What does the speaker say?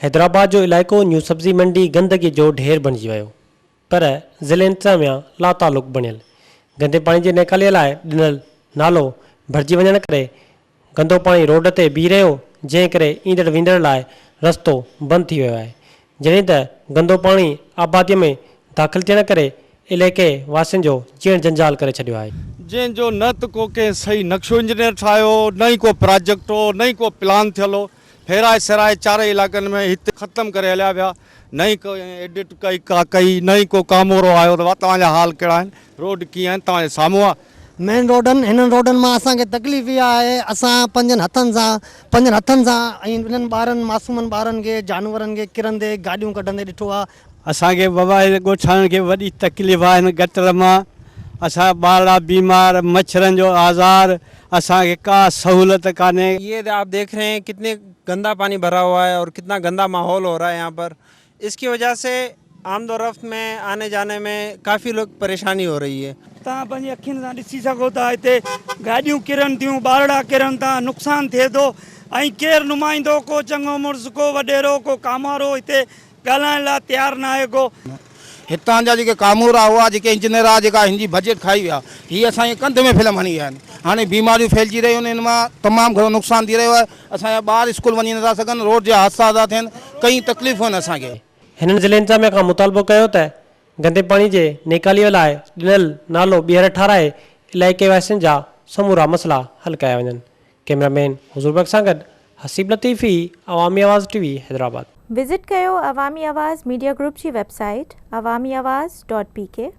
حيدرآباد جو علائقو نيو سبزي منڊي گندگي جو ڍير بڻجي ويو پر ضلعي انتظاميا لاتعلق بڻيل گندي پاڻي جي نيڪالي لاء ڏنل نالو ڀرجي وڃڻ ڪري گندو پاڻي روڊ تي بيهي رهيو جنهن ڪري ايندڙ ويندڙ لاء رستو بند ٿي ويو آهي جڏهن ته گندو پاڻي آباديء ۾ داخل ٿيڻ ڪري عليقي واسين جو جيئڻ جنجال ڪري ڇڏيو آهي. جنهن جو نه ته ڪو ڪنهن صحيح نقشو انجنيئر ٺاهيو هو، نه ئي ڪو پراجيڪٽ هو، نه ئي ڪو پلان ٿيل هو. ڦيرائي سيرائي چارئي علائقن ۾ هت ختم ڪري هليا ويا. نه ئي ڪنهن ايڊٽ ڪئي ڪا ڪئي، نه ئي ڪو ڪامورو آيو ته ڀا توهان جا حال ڪهڙا آهن، روڊ ڪيئن آهن، توهان جي سامهون آهي. مين روڊن، هنن روڊن مان اسان کي تڪليف اها آهي اسان پنهنجن هٿن سان پنهنجن هٿن سان ۽ انهن ٻارن معصومن ٻارن کي جانورن کي ڪرندي گاڏيون ڪڍندي ڏٺو آهي. اسان کي وواهيل ڳوٺاڻن کي وڏي تڪليف آهي هن گٽر مان اسان ٻارڙا بيمار مڇرن جو آزار اسان کي ڪا سهولت ڪانهي. يي آپ ديک رهي هين ڪتني گندا پاني ڀرا هوا هي اور ڪتنا گندا ماحول هو رها هي يهان پر اس ڪي وجه سي آمد و رفت مين آني جاني مين ڪافي لوگ پريشاني هو رهي هي. توهان پنهنجي اکين سان ڏسي سگهو ٿا هتي گاڏيون ڪرن ٿيون ٻارڙا ڪرن ٿا نقصان ٿئي ٿو ۽ ڪير نمائندو ڪو چڱو مڙس ڪو وڏيرو ڪو ڪاموارو هتي ڳالهائڻ لاء تيار ناهي ڪو. هتان جا جيڪي ڪامورا هئا جيڪي انجنيئر هئا جيڪا هن جي بجيٽ کائي ويا هي اسان جي ڪنڌ ۾ فلم هڻي ويا آهن هاڻي بيماريون ڦهلجي رهيون آهن هن مان تمام گهڻو نقصان ٿي رهيو آهي اسان جا ٻار اسڪول وڃي نٿا سگهن، روڊ جا حادثا ٿا ٿين، ڪئين تڪليفون آهن اسان کي. هنن ضلعي انتظاميه کان مطالبو ڪيو ته گندي پاڻي جي نيڪاليء لاء ڏنل نالو ٻيهر ٺاراهي علائقي واسين جا سمورا مسئلا حل ڪيا وڃن. ڪيمرا مين حضور بيگ سان گڏ Haseeb Latifi Awami Awaz T V Hyderabad. Visit ڪيو عوامي آواز ميڊيا گروپ جي website Awami Awaz dot بي ڪي.